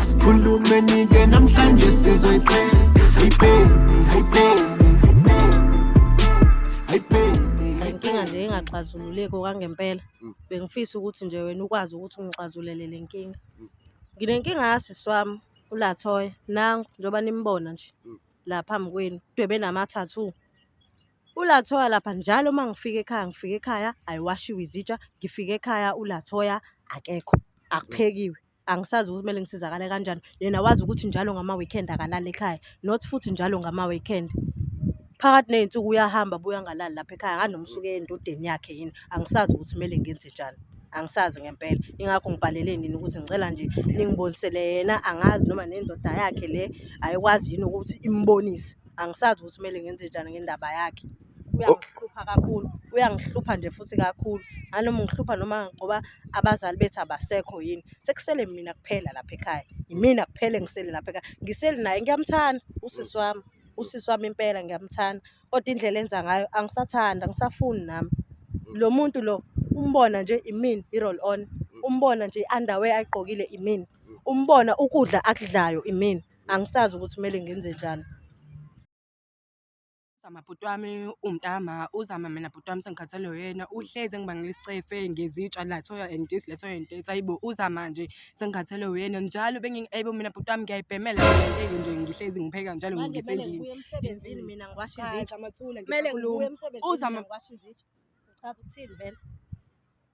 Sikhulume nike namhlanje sizoyiqeda. Hey babe, hey babe. Hey babe. inkinga nje engaxazululeki okwangempela Mm. bengifisa ukuthi nje wena ukwazi ukuthi ungixazulele le nkinga Mm. nginenkinga yasisi wami ulathoya nangu njengoba nimbona nje Mm. la phambi kwenu dwebe nama-tattoo ulathoya lapha njalo uma ngifika ekhaya ngifika ekhaya ayiwashiwe izitsha ngifika ekhaya ulathoya akekho akuphekiwe angisazi ukuthi kumele ngisizakale kanjani yena wazi ukuthi njalo ngama-weekend akalali ekhaya not futhi njalo ngama-weekend phakathi ney'nsuku uyahamba buya ngalali lapha ekhaya akanomsuke endodeni yakhe yini angisazi ukuthi kumele ngenze njani angisazi ngempela ingakho ngibhalele nini ukuthi ngicela nje ningibonisele yena angazi noma nendoda yakhe le ayikwazi yini ukuthi imbonise angisazi ukuthi kumele ngenze njani ngendaba yakhe uyangihlupha kakhulu uyangihlupha nje futhi kakhulu anoma ngihlupha noma ngoba abazali bethu abasekho yini sekusele mina kuphela lapha ekhaya yimina kuphela engisele lapha ekhaya ngiseli naye ngiyamthanda usisi wami usisi wami impela ngiyamthanda kodwa indlela enza ngayo angisathanda angisafuni nami lo muntu lo umbona nje imini i-roll on umbona nje i-underwear ayigqokile imini umbona ukudla akudlayo imini angisazi ukuthi kumele ngenze njani Uzama bhuti wami umtama uzama mina bhuti wami sengikhathalwe uyena uhlezi engibangela isicefe ngezitsha lathoya and this lathoya and this ayibo uzama nje sengikhathalwe uyena njalo bengiyibo mina bhuti wami ngiyayibhemela ngeke nje ngihlezi ngipheka njalo ngisendlini emsebenzini mina ngiwasha izitsha amathula kumele ngikhulume uzama ngiwasha izitsha uchaza ukuthini vele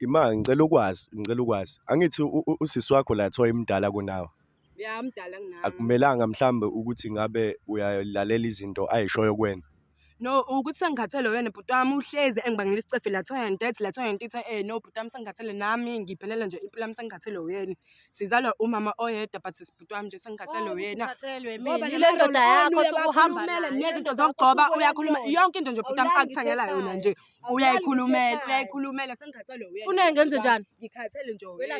Imanga ngicela ukwazi ngicela ukwazi angithi usisi wakho la thoya imdala kunawe ya mdala kunami akumelanga mhlambe ukuthi ngabe uyalalela izinto ayishoyo kwena no ukuthi sengikhathele wena bhuti wami uhlezi engibangela isicefe lathi wena ntethi lathi wena ntitha eh no bhuti wami sengikhathele nami ngiphelele nje impilo yami sengikhathele wena sizalwa umama oyedwa but sibhuti wami nje sengikhathele oh, wena ngoba le ndoda yakho sokuhamba nezinto zokugcoba uyakhuluma yonke into nje bhuti wami akuthangela yona nje uyayikhulumela uyayikhulumela sengikhathele wena funa ngenze njani ngikhathele nje wena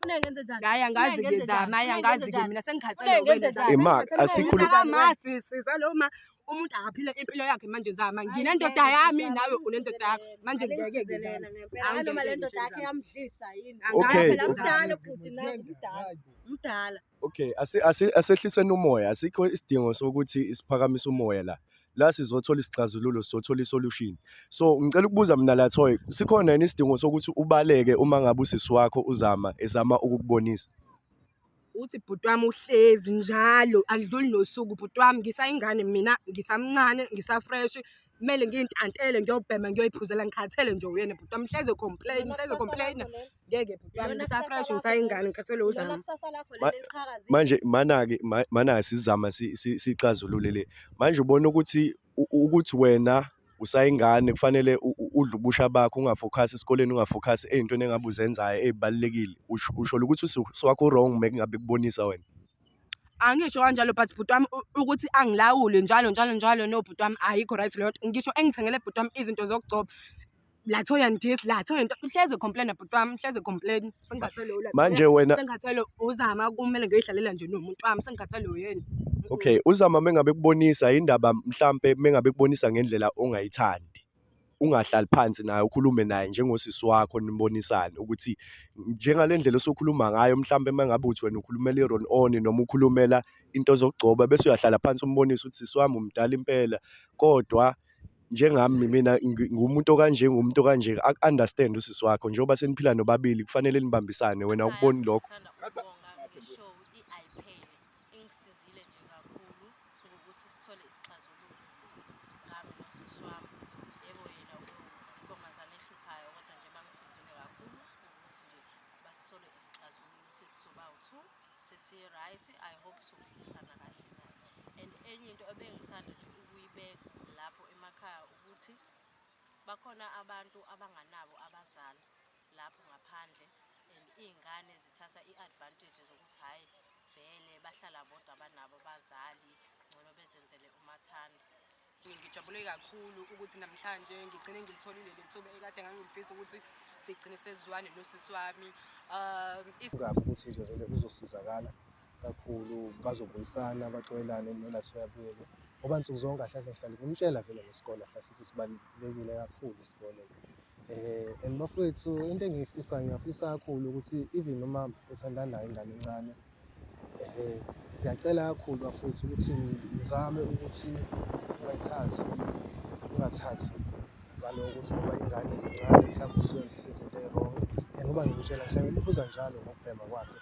funa ngenze njani hayi angazi ke zama hayi angazi ke mina sengikhathele wena ima asikhuluma sisi zaloma umuntu akaphile impilo yakhe manje zama nginendoda yami nawe unendoda yakho manje ngeke ngizana noma le ndoda yakhe yamdlisa yini okay mdala bhuti nawe mdala mdala Okay, asehliseni umoya, asikho isidingo sokuthi siphakamise umoya la. La sizothola isixazululo, sizothola isolution. So ngicela ukubuza mina la Thoy, sikhona yini isidingo sokuthi ubaleke uma ngabe usisi wakho uzama ezama ukukubonisa? uthi bhuti wami uhlezi njalo akudluli nosuku bhuti wami ngisayingane mina ngisamncane ngisafresh Kumele ngiyintantele ngiyobhema ngiyoyiphuzela ngikhathele nje uyena bhuti wami hleze complain hleze complain ngeke bhuti wami ngisafresh ngisayingane ngikhathele uzama manje manake manake sizama sixazulule le manje ubona ukuthi ukuthi wena usayingane kufanele udle ubusha bakho ungafokhasi esikoleni ungafokhasi ey'ntweni engabe uzenzayo ey'balulekile usho ukuthi usiwakho wrong mekungabe kubonisa wena Angisho kanjalo but bhuti wami ukuthi angilawule njalo njalo njalo no bhuti wami ayikho right leyo nto. Ngisho engithengele bhuti wami izinto zokugcoba la toy and this la toy and uhlezi ecomplain-a bhuti wami uhlezi ecomplain-a sengikhathele ula Manje wena- sengikhathele uzama kumele ngiyoyidlalela nje nomuntu wami sengikhathele uyena Okay, uzama mengabe kubonisa indaba mhlampe mengabe kubonisa ngendlela ongayithandi. ungahlali phansi naye ukhulume naye njengosisi wakho nibonisane ukuthi njengale ndlela osokhuluma ngayo mhlawumbe uma ngabe uthi wena ukhulumela i-roll on noma ukhulumela into zokugcoba bese uyahlala phansi umbonise ukuthi sisi wami umdala impela kodwa njengami mina ngumuntu okanje ngumuntu okanje aku-understand usisi wakho njengoba seniphila nobabili kufanele nibambisane wena ukuboni lokho Ingisizile nje kakhulu ukuthi sithole isixazululo ngami nosisi wami. Yebo yena untombazane ehluphayo kodwa nje bangisizile kakhulu ukuthi nje basithole isixazululo sithi sobawu-two sesi-right i hope sophikisana kahle naye and enye into ebengithanda nje ukuyibeka lapho emakhaya ukuthi bakhona abantu abanganabo abazali lapho ngaphandle and iy'ngane zithatha i-advantage zokuthi hhayi vele bahlala bodwa banabo bazali ngcono bezenzele umathanda ngijabule kakhulu ukuthi namhlanje ngigcine ngilitholile le nsuku ekade ngangilifisa ukuthi sigcine sezwane nosisi wami um ukuthi nje vele uzosizakala kakhulu bazobuyisana baxolelane nona siyabuyele ngoba nsuku zonke ahlale ahlale kumtshela vele ngesikole ahlale sisibalulekile kakhulu isikole eh and bafowethu into engiyifisa ngiyafisa kakhulu ukuthi even noma esandana nayo ingane encane eh ngiyacela kakhulu bafowethu ukuthi ngizame ukuthi ungathathi ungathathi ngaloko ukuthi ngoba ingane incane mhlawumbe usuyozisiza into erong and uba ngimtshela mhlawumbe umbuza njalo ngokubhema kwakhe